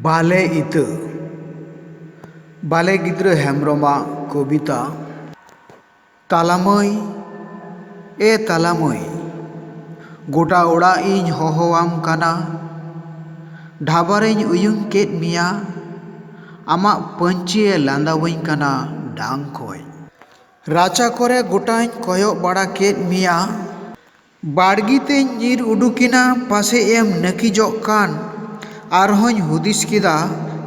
ᱵᱟᱞᱮ ᱤᱛᱟᱹ ᱵᱟᱞᱮ ᱜᱤᱫᱽᱨᱟᱹ ᱦᱮᱢᱵᱨᱚᱢ ᱟᱜ ᱠᱚᱵᱤᱛᱟ ᱛᱟᱞᱟ ᱢᱟᱹᱭ ᱮ ᱛᱟᱞᱟ ᱢᱟᱹᱭ ᱜᱚᱴᱟ ᱚᱲᱟᱜ ᱤᱧ ᱦᱚᱦᱚ ᱟᱢ ᱠᱟᱱᱟ ᱰᱷᱟᱵᱟ ᱨᱤᱧ ᱩᱭᱩᱝ ᱠᱮᱫ ᱢᱮᱭᱟ ᱟᱢᱟᱜ ᱯᱟᱹᱧᱪᱤ ᱮ ᱞᱟᱸᱫᱟ ᱟᱹᱧ ᱠᱟᱱᱟ ᱰᱟᱝ ᱠᱷᱚᱱ ᱨᱟᱪᱟ ᱠᱚᱨᱮ ᱜᱚᱴᱟᱧ ᱠᱚᱭᱚᱜ ᱵᱟᱲᱟ ᱠᱮᱫ ᱢᱮᱭᱟ ᱵᱟᱲᱜᱤ ᱛᱮᱧ ᱧᱤᱨ ᱩᱰᱩᱠᱮᱱᱟ ᱯᱟᱥᱮᱡ ᱮᱢ ᱱᱟᱹᱠᱤᱡᱚᱜ ᱠᱟᱱ᱾ ᱟᱨᱦᱚᱸᱧ ᱦᱩᱫᱤᱥ ᱠᱮᱫᱟ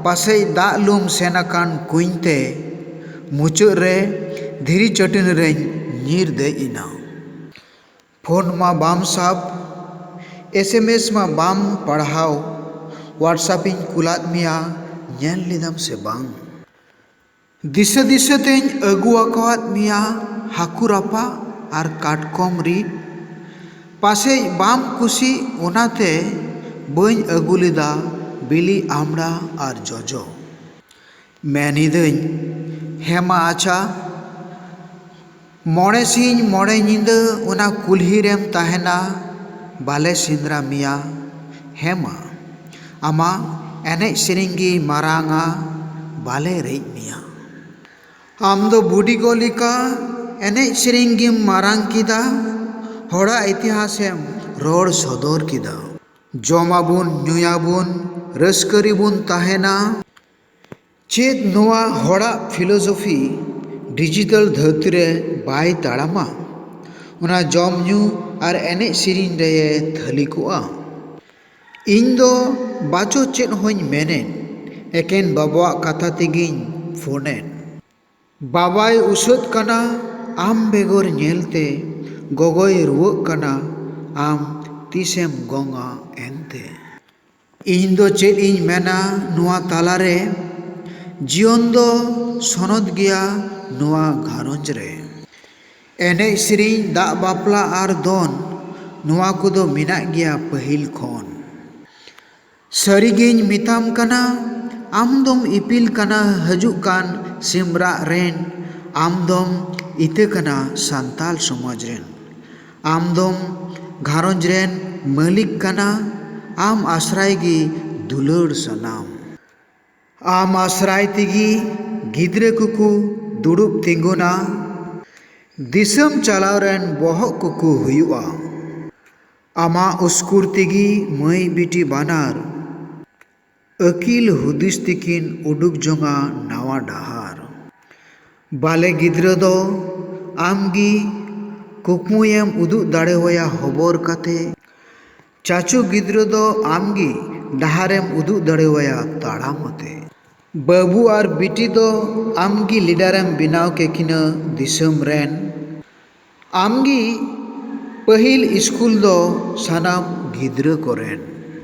ᱯᱟᱥᱮᱡ ᱫᱟᱜ ᱞᱩᱢ ᱥᱮᱱ ᱟᱠᱟᱱ ᱠᱩᱧ ᱛᱮ᱾ ᱢᱩᱪᱟᱹᱫ ᱨᱮ ᱫᱷᱤᱨᱤ ᱪᱟᱹᱴᱟᱹᱱᱤ ᱨᱮᱧ ᱧᱤᱨ ᱫᱮᱡ ᱮᱱᱟ᱾ ᱯᱷᱳᱱ ᱢᱟ ᱵᱟᱢ ᱥᱟᱵ᱾ ᱮᱥᱮᱢᱮᱥ ᱢᱟ ᱵᱟᱢ ᱯᱟᱲᱦᱟᱣ᱾ ᱣᱟᱴᱥᱟᱯ ᱤᱧ ᱠᱩᱞᱟᱫ ᱢᱮᱭᱟ ᱧᱮᱞ ᱞᱮᱫᱟᱢ ᱥᱮ ᱵᱟᱝ᱾ ᱫᱤᱥᱟᱹ ᱫᱤᱥᱟᱹ ᱛᱮᱧ ᱟᱹᱜᱩ ᱟᱠᱟᱣᱟᱫ ᱢᱮᱭᱟ ᱦᱟᱹᱠᱩ ᱨᱟᱯᱟᱜ ᱟᱨ ᱠᱟᱴᱠᱚᱢ ᱨᱤᱫ᱾ ᱯᱟᱥᱮᱡ ᱵᱟᱢ ᱠᱩᱥᱤᱜ ᱚᱱᱟᱛᱮ ᱵᱟᱹᱧ ᱟᱹᱜᱩ ᱞᱮᱫᱟ ᱵᱤᱞᱤ ᱟᱢᱲᱟ ᱟᱨ ᱡᱚᱡᱚ᱾ ᱢᱮᱱ ᱤᱫᱟᱹᱧ ᱦᱮᱸ ᱢᱟ ᱟᱪᱷᱟ᱾ ᱢᱚᱬᱮ ᱥᱤᱧ ᱢᱚᱬᱮ ᱧᱤᱫᱟᱹ ᱚᱱᱟ ᱠᱩᱞᱦᱤ ᱨᱮᱢ ᱛᱟᱦᱮᱱᱟ ᱵᱟᱞᱮ ᱥᱮᱸᱫᱽᱨᱟ ᱢᱮᱭᱟ ᱦᱮᱸ ᱢᱟ ᱟᱢᱟᱜ ᱮᱱᱮᱡ ᱥᱮᱨᱮᱧ ᱜᱮ ᱢᱟᱨᱟᱝᱼᱟ ᱵᱟᱞᱮ ᱨᱮᱡ ᱢᱮᱭᱟ ᱟᱢ ᱫᱚ ᱵᱩᱰᱤ ᱜᱚ ᱞᱮᱠᱟ ᱮᱱᱮᱡ ᱥᱮᱨᱮᱧ ᱜᱮᱢ ᱢᱟᱨᱟᱝ ᱠᱮᱫᱟ ᱦᱚᱲᱟᱜ ᱤᱛᱤᱦᱟᱥ ᱮᱢ ᱨᱚᱲ ᱥᱚᱫᱚᱨ ᱠᱮᱫᱟ ᱡᱚᱢ ᱟᱵᱚᱱ ᱧᱩᱭᱟᱵᱚᱱ ᱨᱟᱹᱥᱠᱟᱹ ᱨᱮᱵᱚᱱ ᱛᱟᱦᱮᱱᱟ ᱪᱮᱫ ᱱᱚᱣᱟ ᱦᱚᱲᱟᱜ ᱯᱷᱤᱞᱳᱡᱚᱯᱷᱤ ᱰᱤᱡᱤᱴᱟᱞ ᱫᱷᱟᱹᱨᱛᱤ ᱨᱮ ᱵᱟᱭ ᱛᱟᱲᱟᱢᱟ ᱚᱱᱟ ᱡᱚᱢ ᱧᱩ ᱟᱨ ᱮᱱᱮᱡ ᱥᱮᱨᱮᱧ ᱨᱮ ᱛᱷᱟᱹᱞᱤ ᱠᱚᱜᱼᱟ ᱤᱧ ᱫᱚ ᱵᱟᱪᱚ ᱪᱮᱫ ᱦᱚᱧ ᱢᱮᱱᱮᱫ ᱮᱠᱮᱱ ᱵᱟᱵᱟᱣᱟᱜ ᱠᱟᱛᱷᱟ ᱛᱮᱜᱮᱧ ᱯᱷᱳᱱᱮᱫ ᱵᱟᱵᱟᱭ ᱩᱥᱟᱹᱫ ᱠᱟᱱᱟ ᱟᱢ ᱵᱮᱜᱚᱨ ᱧᱮᱞ ᱛᱮ ᱜᱚᱜᱚᱭ ᱨᱩᱣᱟᱹᱜ ᱠᱟᱱᱟ ᱟᱢ ᱛᱤᱥᱮᱢ ᱜᱚᱝᱼᱟ ᱮᱱᱛᱮ ᱤᱧ ᱫᱚ ᱪᱮᱫ ᱤᱧ ᱢᱮᱱᱟ ᱱᱚᱣᱟ ᱛᱟᱞᱟ ᱨᱮ᱾ ᱡᱤᱭᱚᱱ ᱫᱚ ᱥᱚᱱᱚᱛ ᱜᱮᱭᱟ ᱱᱚᱣᱟ ᱜᱷᱟᱨᱚᱸᱡᱽ ᱨᱮ᱾ ᱮᱱᱮᱡ ᱥᱮᱨᱮᱧ ᱫᱟᱜ ᱵᱟᱯᱞᱟ ᱟᱨ ᱫᱚᱱ ᱱᱚᱣᱟ ᱠᱚᱫᱚ ᱢᱮᱱᱟᱜ ᱜᱮᱭᱟ ᱯᱟᱹᱦᱤᱞ ᱠᱷᱚᱱ᱾ ᱥᱟᱹᱨᱤ ᱜᱮᱧ ᱢᱮᱛᱟᱢ ᱠᱟᱱᱟ ᱟᱢ ᱫᱚᱢ ᱤᱯᱤᱞ ᱠᱟᱱᱟ ᱦᱟᱹᱡᱩᱜ ᱠᱟᱱ ᱥᱤᱢ ᱨᱟᱜ ᱨᱮᱱ᱾ ᱟᱢ ᱫᱚᱢ ᱤᱛᱟᱹ ᱠᱟᱱᱟ ᱥᱟᱱᱛᱟᱞ ᱥᱚᱢᱟᱡᱽ ᱨᱮᱱ᱾ ᱟᱢ ᱫᱚᱢ ᱜᱷᱟᱨᱚᱸᱡᱽ ᱨᱮᱱ ᱢᱟᱹᱞᱤᱠ ᱠᱟᱱᱟ᱾ ᱟᱢ ᱟᱥᱨᱟᱭ ᱜᱮ ᱫᱩᱞᱟᱹᱲ ᱥᱟᱱᱟᱢ᱾ ᱟᱢ ᱟᱥᱨᱟᱭ ᱛᱮᱜᱮ ᱜᱤᱫᱽᱨᱟᱹ ᱠᱚᱠᱚ ᱫᱩᱲᱩᱵ ᱛᱤᱸᱜᱩᱱᱟ᱾ ᱫᱤᱥᱟᱹᱢ ᱪᱟᱞᱟᱣ ᱨᱮᱱ ᱵᱚᱦᱚᱜ ᱠᱚᱠᱚ ᱦᱩᱭᱩᱜᱼᱟ᱾ ᱟᱢᱟᱜ ᱩᱥᱠᱩᱨ ᱛᱮᱜᱮ ᱢᱟᱹᱭ ᱵᱤᱴᱤ ᱵᱟᱱᱟᱨ᱾ ᱟᱹᱠᱤᱞ ᱦᱩᱫᱤᱥ ᱛᱮᱠᱤᱱ ᱩᱰᱩᱠ ᱡᱚᱝᱼᱟ ᱱᱟᱣᱟ ᱰᱟᱦᱟᱨ᱾ ᱵᱟᱞᱮ ᱜᱤᱫᱽᱨᱟᱹ ᱫᱚ ᱟᱢ ᱜᱮ ᱠᱩᱠᱢᱩᱭᱮᱢ ᱩᱫᱩᱜ ᱫᱟᱲᱮᱣᱟᱭᱟ ᱦᱚᱵᱚᱨ ᱠᱟᱛᱮ᱾ ᱪᱟᱪᱚ ᱜᱤᱫᱽᱨᱟᱹ ᱫᱚ ᱟᱢ ᱜᱮ ᱰᱟᱦᱟᱨᱮᱢ ᱩᱫᱩᱜ ᱫᱟᱲᱮᱣᱟᱭᱟ ᱛᱟᱲᱟᱢ ᱟᱛᱮ᱾ ᱵᱟᱹᱵᱩ ᱟᱨ ᱵᱤᱴᱤ ᱫᱚ ᱟᱢ ᱜᱮ ᱞᱤᱰᱟᱨᱮᱢ ᱵᱮᱱᱟᱣ ᱠᱮᱠᱤᱱᱟ ᱫᱤᱥᱟᱹᱢ ᱨᱮᱱ᱾ ᱟᱢ ᱜᱮ ᱯᱟᱹᱦᱤᱞ ᱤᱥᱠᱩᱞ ᱫᱚ ᱥᱟᱱᱟᱢ ᱜᱤᱫᱽᱨᱟᱹ ᱠᱚᱨᱮᱱ᱾